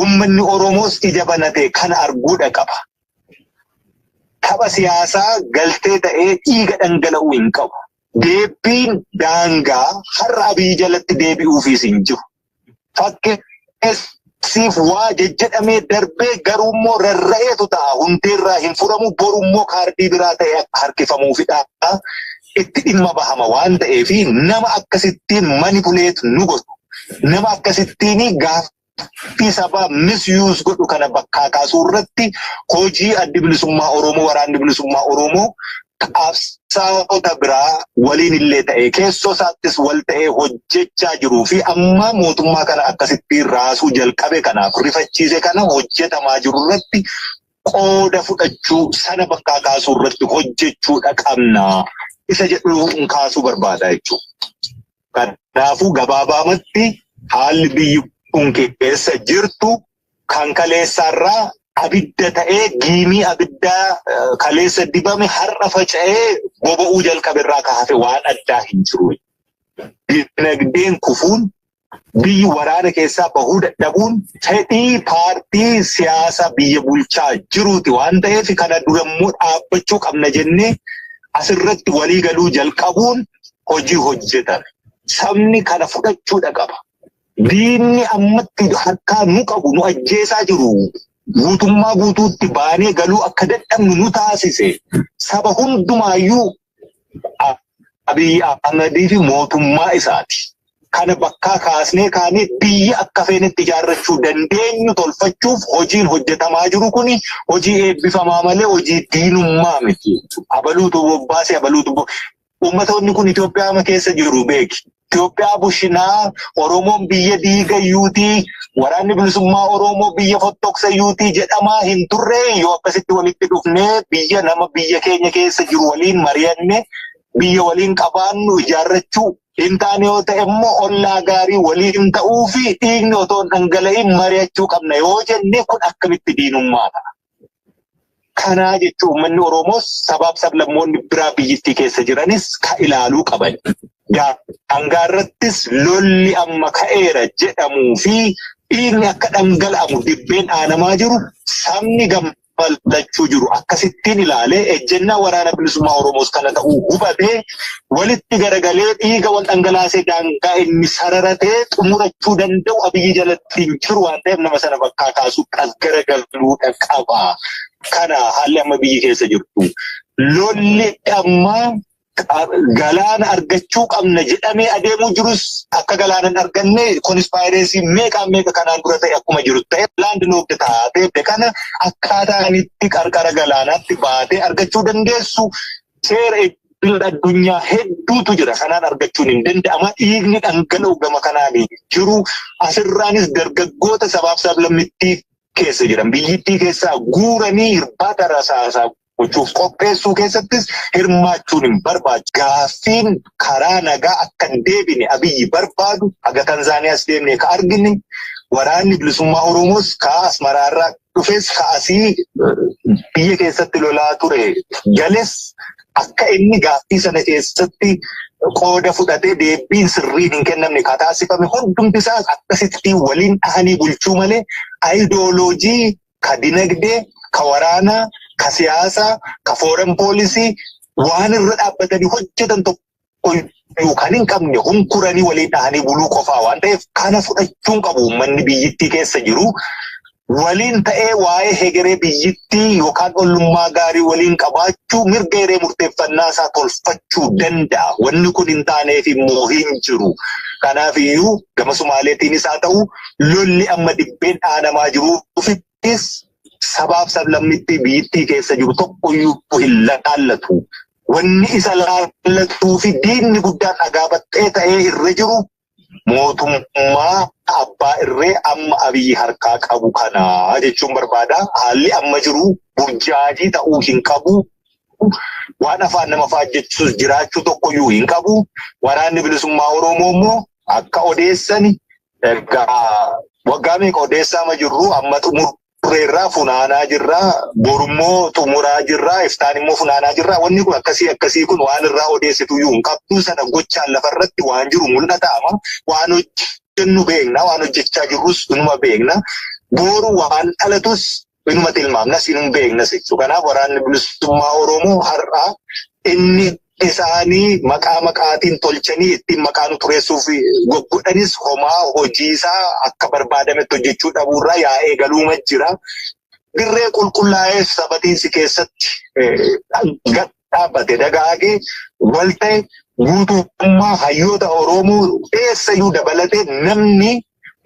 Uummanni Oromoos ija banatee kana arguudha qaba. Tapha siyaasaa galtee ta'ee dhiiga dhangala'uu hin qabu. Deebiin daangaa har'a abiyyi jalatti deebi'uufiis hin jiru. fakkeessiif waa jejjedhamee darbee garuu immoo rarra'eetu ta'a hundeerraa hin furamu boru immoo kaardii biraa ta'e akka harkifamuufidha itti dhimma bahama waan ta'eef nama akkasittiin manipuleet nu godhu nama akkasittiin gaaf fi sabaa misuse godhu kana bakkaa kaasuu irratti hojii addi bilisummaa Oromoo waraanni bilisummaa Oromoo qabsaa'ota biraa waliin illee ta'ee keessoo isaattis wal ta'ee hojjechaa jiruu fi amma mootummaa kana akkasitti raasuu jalqabe kanaaf rifachiise kana hojjetamaa jiru irratti qooda fudhachuu sana bakkaa kaasuu irratti hojjechuudha qabna isa jedhu hin kaasuu barbaada jechuudha. Kanaafuu gabaabaamatti haalli biyyi kun keessa jirtu kan kaleessaarraa abidda ta'ee giimii abiddaa eh, kaleessa dibame har'a faca'ee boba'uu jalqaberraa ka hafe waan addaa hin jiru. Dinagdeen kufuun biyyi waraana keessaa bahuu dadhabuun fedhii paartii siyaasa biyya bulchaa jiruuti waan ta'eef kana durammoo dhaabbachuu qabna jennee asirratti walii galuu jalqabuun hojii hojjetame. Sabni kana fudhachuudha qaba. Diinni ammatti harkaa nu qabu nu ajjeesaa jiru guutummaa guutuutti baanee galuu akka dadhabnu nu taasise saba hundumaayyuu Abiyyi Ahmadii fi mootummaa isaati. Kana bakkaa kaasnee kaanee biyya akka feenetti ijaarrachuu dandeenyu tolfachuuf hojiin hojjetamaa jiru kuni hojii eebbifamaa malee hojii diinummaa miti. Abaluutu bobbaase abaluutu Uummatoonni kun Itoophiyaa ama keessa jiru beeki. Itoophiyaa bushinaa Oromoon biyya diigayyuutii waraanni bilisummaa Oromoo biyya fottoksayyuutii jedhamaa hin turre yoo akkasitti walitti dhufnee biyya nama biyya keenya keessa jiru waliin mari'anne biyya waliin qabaannu ijaarrachuu hin taane yoo ta'e immoo ollaa gaarii waliin ta'uu fi dhiigni otoo hin dhangala'in mari'achuu qabna yoo jenne kun akkamitti diinummaa ta'a. Kanaa jechuun uummanni Oromoos sabaaf sablammoonni biraa biyyittii keessa jiranis ka ilaaluu qaban. Daangaa irrattis lolli amma ka'eera jedhamuu fi dhiigni akka dhangala'amu dibbeen dhaanamaa jiru sabni gammachuu jiru akkasittiin ilaalee ejjennaa waraana bilisummaa Oromoos kana ta'uu hubatee walitti garagalee dhiiga wal dhangalaasee daangaa inni sararatee xumurachuu danda'u abiyyi jalatti hin jiru waan ta'eef nama sana bakkaa kaasuu as garagaluudha qaba. Kana haalli amma biyyi keessa jirtu. Lolli amma galaana argachuu qabna jedhamee adeemuu jirus akka galaana hin arganne konispaayireesii meeqaan meeqa kanaan dura ta'e akkuma jiru ta'e laandi lookti taatee kana akkaataa itti qarqara galaanaatti baatee argachuu dandeessu seera idil addunyaa hedduutu jira kanaan argachuun hin danda'ama dhiigni dhangala'u gama kanaan jiru asirraanis dargaggoota sabaaf sablammittii keessa jiran biyyittii keessaa guuranii hirbaata rasaasaa gochuuf qopheessuu keessattis hirmaachuun hin barbaadu. Gaaffiin karaa nagaa akka hin deebine abiyyi barbaadu haga Tanzaaniyaas deemnee ka argine waraanni bilisummaa Oromoos ka Asmaraarraa dhufes kaasii biyya keessatti lolaa ture gales akka inni gaaffii sana keessatti qooda fudhatee deebiin sirriin hin kennamne ka taasifame hundumti isaas akkasitti waliin dhahanii bulchuu malee ayidooloojii ka dinagdee ka waraanaa ka siyaasaa ka fooren poolisii waan irra dhaabbatanii hojjetan tokko qoyyuu kan hin qabne hunkuranii waliin dhahanii buluu qofaa waan ta'eef kana fudhachuun qabu uummanni biyyittii keessa jiru waliin ta'ee waa'ee hegeree biyyittii yookaan ollummaa gaarii waliin qabaachuu mirga hiree murteeffannaa isaa tolfachuu danda'a. Wanni kun hin taaneef immoo hin jiru. Kanaaf iyyuu gama Sumaaleetiinis haa ta'u lolli amma dibbeen dhaanamaa jiruufis sabaaf sablammitti biyyittii keessa jiru tokkoyyuu hin laallatu. wanni isa laallatuu fi diinni guddaan dhagaa baxxee ta'ee irra jiru mootummaa abbaa irree amma abiyyi harkaa qabu kana jechuun barbaada. Haalli amma jiru burjaajii ta'uu hin qabu. Waan afaan nama faajjechuus jiraachuu tokkoyyuu hin qabu. Waraanni bilisummaa Oromoo immoo akka odeessani egaa waggaa meeqa odeessaa ma jirru amma xumur ture irraa funaanaa jirra borummoo xumuraa jirra iftaan immoo funaanaa jirra wanni kun akkasii akkasii kun waan irraa odeessitu iyyuu hin qabdu sana gochaan lafa irratti waan jiru mul'ata amma waan hojjennu beekna waan hojjechaa jirrus inuma beekna booru waan dhalatus inuma tilmaamnas inuma beeknas jechuudha kanaaf waraanni bilisummaa oromoo har'aa inni isaanii maqaa maqaatiin tolchanii ittiin maqaa nu tureessuuf goggodhanis homaa hojii isaa akka barbaadametti hojjechuu dhabuurraa yaa eegaluuma jira. Dirree qulqullaa'ee sabatiinsi keessatti gad dhaabbate dagaagee wal ta'e guutummaa hayyoota Oromoo eessayyuu dabalatee namni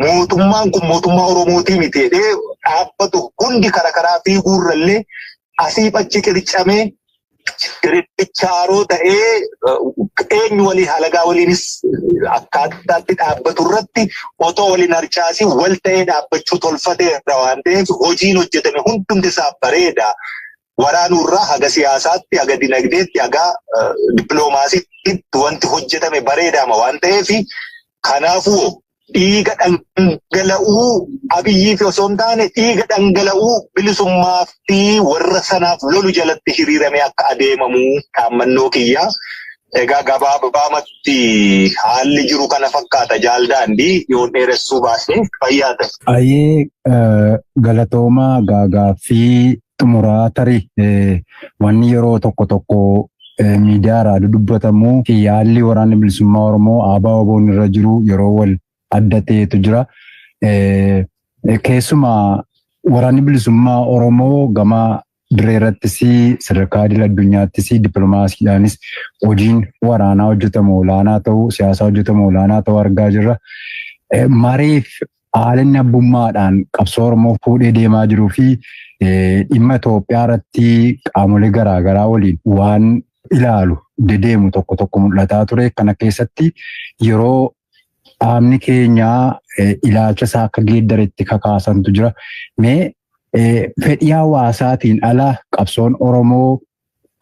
mootummaan kun mootummaa Oromootii miti jedhee dhaabbatu hundi karaa karaa fiiguurrallee asiif achi qircamee Richaaroo ta'ee eenyu waliin halagaa waliinis akkaataatti dhaabbatu irratti otoo waliin harcaasii wal ta'ee dhaabbachuu tolfateera waan ta'eef hojiin hojjetame hundumti isaa bareeda. Waraanuurraa haga siyaasaatti, haga dinagdeetti, haga dippiloomaasiitti wanti hojjetame bareedaama waan ta'eef kanaafuu dhiiga dhangala'uu abiyyii fi osoo hin taane dhiiga dhangala'uu bilisummaa fi warra sanaaf lolu jalatti hiriiramee akka adeemamu dhaammannoo kiyya. Egaa gabaabumatti haalli jiru kana fakkaata jaal daandii yoo dheeressuu baasne fayyaa ta'e. Ayee galatoomaa gaagaaffii xumuraa tarii wanni yeroo tokko tokko miidiyaa irraa dudubbatamu yaalli waraanni bilisummaa Oromoo aabaa oboon irra jiru yeroo wal adda ta'etu jira. Keessumaa waraanni bilisummaa Oromoo gama diree irrattis sadarkaa idil addunyaattis dippiloomaasiidhaanis hojiin waraanaa hojjetamu olaanaa ta'uu siyaasaa hojjetamu olaanaa ta'uu argaa jirra. Mareef haala inni abbummaadhaan qabsoo Oromoo fuudhee deemaa jiruu fi dhimma Itoophiyaa irratti qaamolee garaagaraa waliin waan ilaalu dedeemu tokko tokko mul'ataa ture. Kana keessatti yeroo dhaabni keenyaa ilaalcha isaa akka geeddaretti kakaasantu jira. Mee fedhii hawaasaatiin ala qabsoon Oromoo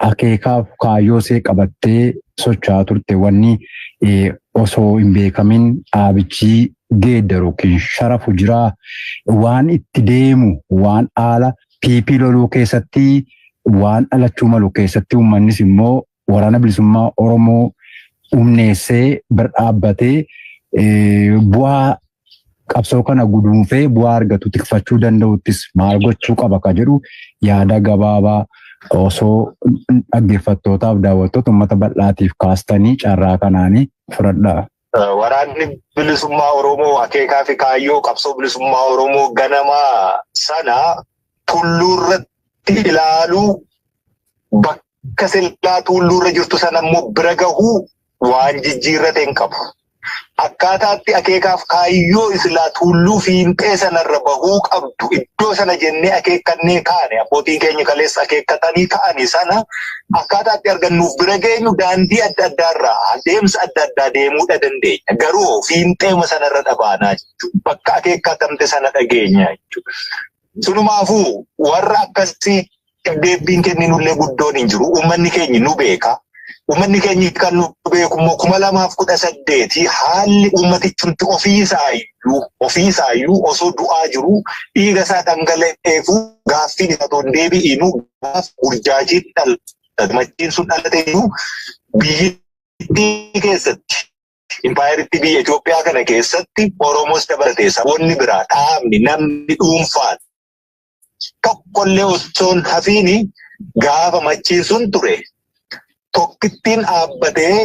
Akeekaaf kaayyoo see qabattee socho'aa turte wanni osoo hin beekamin dhaabichii geeddaru ykn sharafu jiraa waan itti deemu waan haala PP loluu keessatti waan dhalachuu malu keessatti uummannis immoo waraana bilisummaa Oromoo humneessee bira dhaabbatee bu'aa qabsoo kana guduunfee bu'aa argatu tikfachuu danda'uttis maal gochuu qaba ka jedhu yaada gabaabaa osoo dhaggeeffattootaaf daawwattoota uummata bal'aatiif kaastanii carraa kanaanii fudhadhaa. Waraanni bilisummaa Oromoo akeekaa fi kaayyoo qabsoo bilisummaa Oromoo ganamaa sana tulluurratti ilaaluu bakka akka silaa tuulluurra jirtu sana immoo bira gahuu waan jijjiirrate hin qabu. Akkaataatti akeekaaf kaayyoo islaa tuulluu fiinxee sanarra bahuu qabdu iddoo sana jennee akeekkannee kaane abbootiin keenya kaleessa akeekkatanii ka'anii sana akkaataatti argannuuf bira geenyu daandii adda addaarraa adeemsa adda addaa deemuudha dandeenya. Garuu fiinxeema sanarra dhabaanaa jechuudha. Bakka akeekkatamte sana dhageenya jechuudha. Silumaafuu warra akkasii deebbiin kenninullee guddoon hin jiru. Uummanni keenya nu beeka. Uummanni keenya kan nu beeku immoo kuma lamaaf kudha saddeeti haalli uummatichumti ofiisaayyuu ofiisaayyuu osoo du'aa jiru dhiiga isaa dhangala'eefuu gaaffiin isaa otoo hin deebi'iinuu gaaf burjaajiin dhalate machiin sun dhalateeyyuu biyyittii keessatti Impaayerittii biyya Itoophiyaa kana keessatti Oromoos dabalatee saboonni biraa dhaabni namni dhuunfaan tokkollee osoo hin hafiini gaafa machiin sun ture tokkittiin dhaabbatee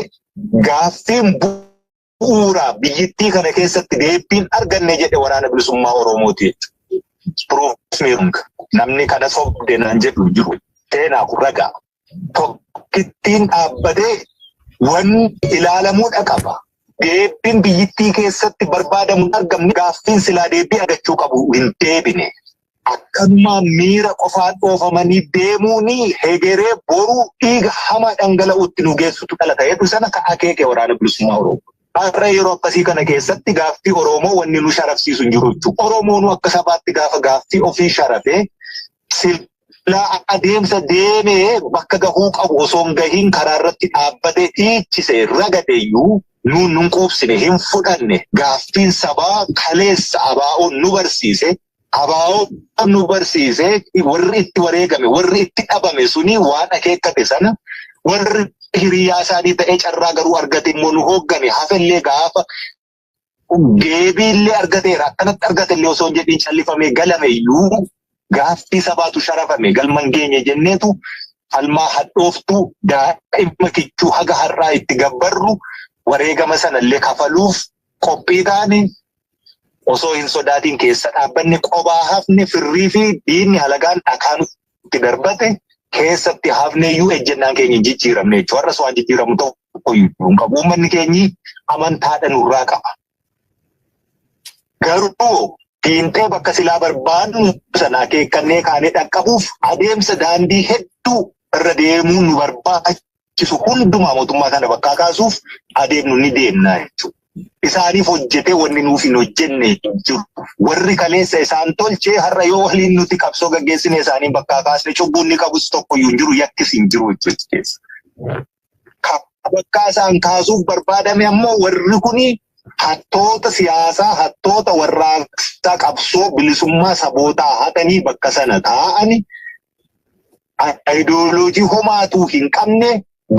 gaaffiin bu'uuraa biyyittii kana keessatti deebiin arganne jedhe waraana bilisummaa Oromooti jechuudha. Namni kana sobde naan jedhu jiru. Seenaa kun ragaa. tokkittiin dhaabbatee wan ilaalamuudha qaba. Deebiin biyyittii keessatti barbaadamu hin argamne gaaffiin silaa deebii argachuu qabu hin deebine. Akkanumaan miira qofaan dhoofamanii deemuun hegeree boruu dhiiga hamaa dhangala'uutti nu geessutu dhala ta'eetu sana ka akeeke waraana bilisummaa Oromoo. Har'a yeroo akkasii kana keessatti gaaffii Oromoo wanni nu sharafsiisu hin jiru jechuudha. Oromoonuu akka sabaatti gaafa gaaffii ofii sharafee silaa adeemsa deemee bakka gahuu qabu osoo hin gahiin karaa irratti dhaabbatee dhiichise ragade iyyuu nuun nun quubsine hin fudhanne gaaffiin sabaa kaleessa abaa'oon nu barsiise abaa'oon nu barsiise warri itti wareegame warri itti dhabame suni waan akeekkate sana warri hiriyaa isaanii ta'ee carraa garuu argate immoo nu hooggane hafellee gaafa deebii illee argateera. Akkanatti argate illee osoo hin jedhiin callifamee galame iyyuu gaaffii sabaatu sharafame galma hin geenye jenneetu falmaa hadhooftuu daa'ima kichuu haga har'aa itti gabbarru wareegama sana illee kafaluuf qophii taane osoo hin sodaatiin keessa dhaabbanne qobaa hafne firrii fi diinni halagaan dhakaa nutti itti darbate keessatti hafnee iyyuu ejjennaan keenya hin jijjiiramne jechuudha. Har'as waan jijjiiramu tokko iyyuu hin qabu. Uummanni keenyi amantaadha nurraa qaba. Garuu fiintee bakka silaa barbaadnu sana akeekkannee kaanee dhaqqabuuf adeemsa daandii hedduu irra deemuun nu barbaachisa. barbaachisu hundumaa mootummaa kana bakkaa kaasuuf adeemnu ni deemna jechuudha. Isaaniif hojjetee wanni nuuf hin hojjenne hin jiru. Warri kaleessa isaan tolchee har'a yoo waliin nuti qabsoo gaggeessine isaanii bakkaa kaasne cubbuun ni qabus tokko iyyuu hin jiru yakkis hin jiru jechuudha keessa. Bakkaa isaan kaasuuf barbaadame ammoo warri kuni hattoota siyaasaa, hattoota warraaqsaa qabsoo bilisummaa sabootaa hatanii bakka sana taa'ani ayidooloojii homaatuu hin qabne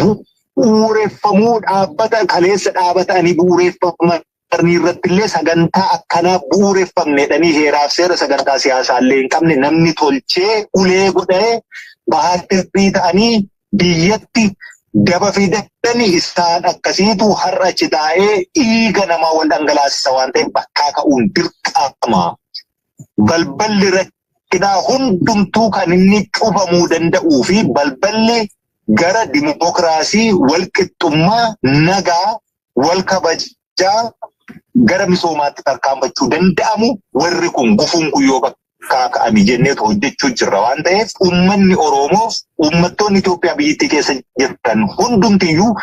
bu'uureffamuu dhaabbata kaleessa dhaabatanii bu'uureffaman irratti illee sagantaa akkanaa bu'uureffamnedhanii heeraaf seera sagantaa siyaasaa illee hin qabne namni tolchee ulee godhee bahaattirrii ta'anii biyyatti daba fi daddani isaan akkasiitu har'a achi taa'ee dhiiga namaa wal dhangalaasisa waan ta'eef bakkaa ka'uun dirqama. balballi rakkinaa hundumtuu kan inni cufamuu danda'uu fi balballi gara dimokiraasii, walqixxummaa, nagaa, wal kabajaa gara misoomaatti tarkaanfachuu danda'amu warri kun gufuun kun yoo kaaka'ame jenneetu hojjechuu jirra waan ta'eef uummanni Oromoof uummattoonni Itoophiyaa biyyattii keessa jirtan hundumtiyyuu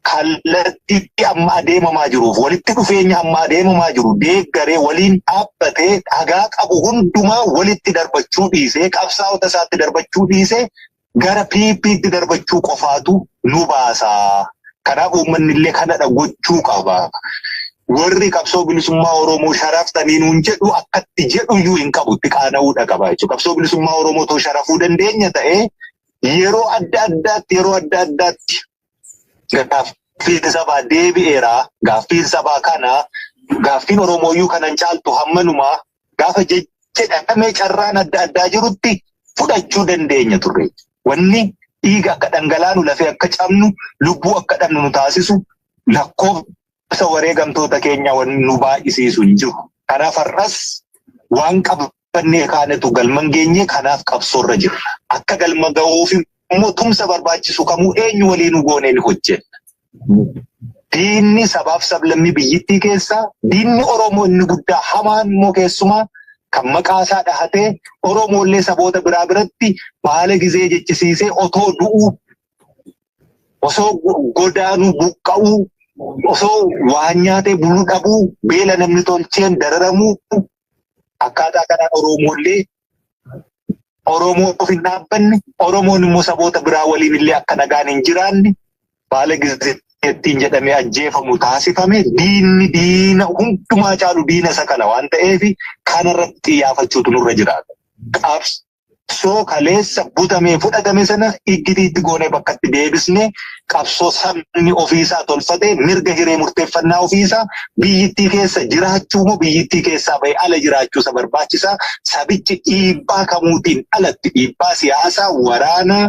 kallattiitti amma adeemamaa jiruuf walitti dhufeenya amma adeemamaa jiru deeggaree waliin dhaabbatee dhagaa qabu hundumaa walitti darbachuu dhiisee qabsaa'ota isaatti darbachuu dhiisee gara PPtti darbachuu qofaatu nu baasa. Kanaaf uummanni illee kanadha gochuu qaba. Warri qabsoo bilisummaa Oromoo sharaftanii nuun jedhu akkatti jedhu iyyuu hin qabu itti qaana'uudha qaba jechuudha. Qabsoo bilisummaa Oromoo too sharafuu dandeenya ta'ee yeroo adda addaatti yeroo adda addaatti gaaffiin sabaa deebi'eera. Gaaffiin sabaa kana gaaffiin Oromooyyuu kanan caaltu hammanumaa gaafa jedhamee carraan adda addaa jirutti fudhachuu dandeenya turre. Wanni dhiiga akka dhangalaanu lafee akka cabnu lubbuu akka dhabnu nu taasisu lakkoofsa wareegamtoota keenya nu baay'isiisu hin jiru. Kanaaf har'as waan qabnu Fannee kaanetu galman geenye kanaaf qabsoorra jirra. Akka galma ga'uuf immoo tumsa barbaachisu kamuu eenyu waliinuu goonee ni hojjenna. Diinni sabaaf sablammii biyyittii keessaa diinni Oromoo inni guddaa hamaan immoo keessumaa kan maqaa isaa dhahatee Oromoollee saboota biraa biratti baala gizee jechisiisee otoo du'uu osoo godaanuu buqqa'uu osoo waan nyaatee bulu dhabuu beela namni tolcheen dararamuu Akkaataa kanaan Oromoollee Oromoof hin dhaabbanne, Oromoon immoo saboota biraa waliin illee akka nagaan hin jiraanne baala gizzeettiin jedhamee ajjeefamu taasifame diinni diina hundumaa caalu diina isa kana waan ta'eef kanarratti xiyyeeffachuutu nurra jiraata. Qabsoo qabsoo kaleessa butamee fudhatame sana iggitiitti goonee bakkatti deebisne qabsoo sabni ofiisaa tolfatee mirga hiree murteeffannaa ofiisaa biyyittii keessa jiraachuu moo biyyittii keessaa ba'e ala jiraachuusa barbaachisaa sabichi dhiibbaa kamuutiin alatti dhiibbaa siyaasaa waraanaa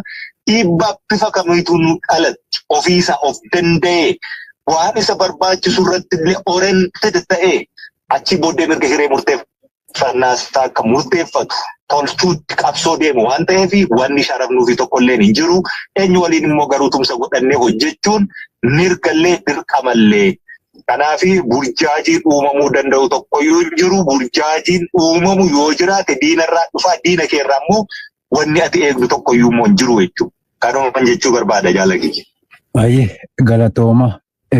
dhiibbaa bifa kamiituun alatti ofiisaa of danda'ee waan isa barbaachisu irratti illee oriented ta'ee achi booddee mirga hiree murteeffannaa Sirnaas akka murteeffatu tolchuutti qabsoo deemu waan ta'eef wanni sharafnuu fi tokkolleen hin jiru. Eenyu waliin immoo garuu tumsa godhannee hojjechuun mirgallee dirqamallee. Kanaaf burjaajiin uumamuu danda'u tokkoyyuu hin jiru. Burjaajiin uumamu yoo jiraate diinarraa dhufaa diina keerraa immoo wanni ati eegdu tokkoyyuu immoo hin jiru jechuudha. Kanumaan jechuu barbaada jaalagiyya. Baay'ee galatooma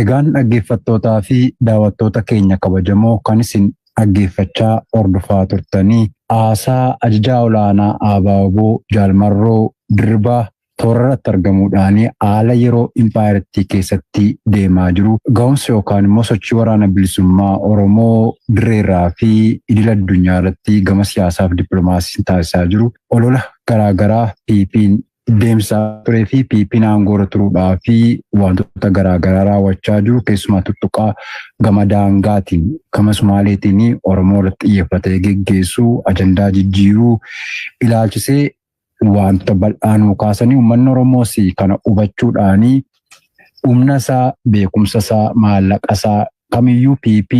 Egaan dhaggeeffattootaa fi daawattoota keenya kabajamoo kan isin dhaggeeffachaa hordofaa turtanii haasaa ajajaa olaanaa ABO Jaal Marroo Dirribaa toorarratti argamuudhaan haala yeroo impaayerattii keessatti deemaa jiru gahumsa yookaan immoo sochii waraana bilisummaa Oromoo dirreerraa fi idil addunyaa irratti gama siyaasaaf dippiloomaasiin taasisaa jiru olola garaagaraa PPn deemsa turee fi PP'n aangoorra turuudhaa fi wantoota garaagaraa raawwachaa jiru keessumaa tuttuqaa gama daangaatiin gama Sumaaleetiin Oromoo irratti xiyyeeffatee geggeessuu ajandaa jijjiiruu ilaalchisee wanta bal'aa nuu kaasanii uummanni Oromoos kana hubachuudhaan humna isaa beekumsa isaa maallaqa isaa kamiyyuu PP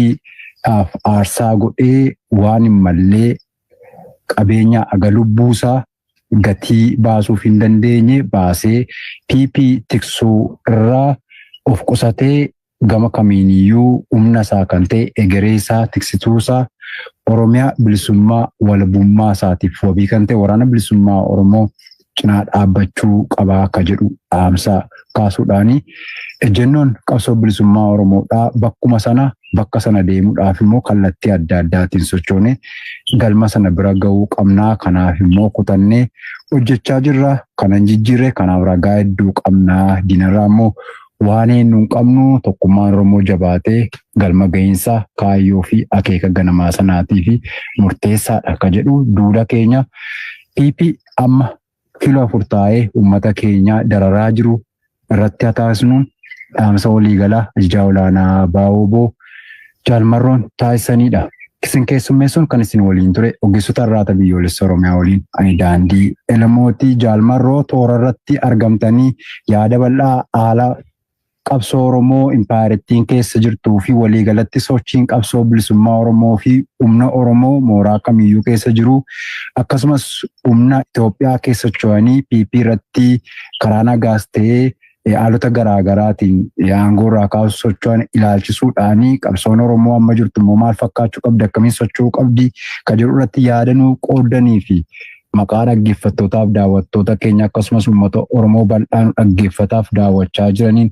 dhaaf aarsaa godhee waan hin mallee qabeenya aga lubbuu isaa gatii baasuuf hin dandeenye baasee PP tiksuu irraa of qusatee gama kamiiniyyuu humna isaa kan ta'e egeree isaa tiksituu isaa Oromiyaa bilisummaa walabummaa isaatiif wabii kan ta'e waraana bilisummaa Oromoo cinaa dhaabbachuu qabaa akka jedhu dhaamsa kaasuudhaani ejjennoon qabsoo bilisummaa Oromoodhaa bakkuma sana Bakka sana deemuudhaaf immoo kallattii adda addaatiin sochoonee galma sana bira ga'uu qabna. Kanaaf immoo kutannee hojjechaa jirra. Kana hin jijjiirre. Kanaaf ragaa hedduu qabna. Diinarraa immoo waan eenyu hin qabnu. Tokkummaan Oromoo jabaatee galma ga'iinsa kaayyoo fi akeeka ganamaa sanaatiif murteessaadha akka jedhu duula keenya PP amma Kilo 4 taa'ee uummata keenya dararaa jiru irratti haa taasisnu dhaamsa waliigalaa Ajajaa Olaanaa ABO-wbo Jaal Marroon taasisaniidha. Isin keessummeessuun kan isin waliin ture ogeessota Arraata Biyyoolessa Oromiyaa waliin ani Daandii Elemooti. Jaal Marroo toora irratti argamtanii yaada bal'aa haala Qabsoo Oromoo impaayerittiin keessa jirtuu fi walii galatti sochiin qabsoo bilisummaa Oromoo fi humna Oromoo mooraa kamiyyuu keessa jiru akkasumas humna Itoophiyaa keessa socho'anii PP irratti karaa nagaas ta'ee haalota garaa garaatiin aangoo irraa kaasu socho'an ilaalchisuudhaan qabsoon Oromoo amma jirtu immoo maal fakkaachuu qabdi akkamiin socho'uu qabdi kan jedhu irratti yaadanuu qooddanii fi maqaa dhaggeeffattootaaf daawwattoota keenya akkasumas uummata Oromoo bal'aan dhaggeeffataaf daawwachaa jiraniin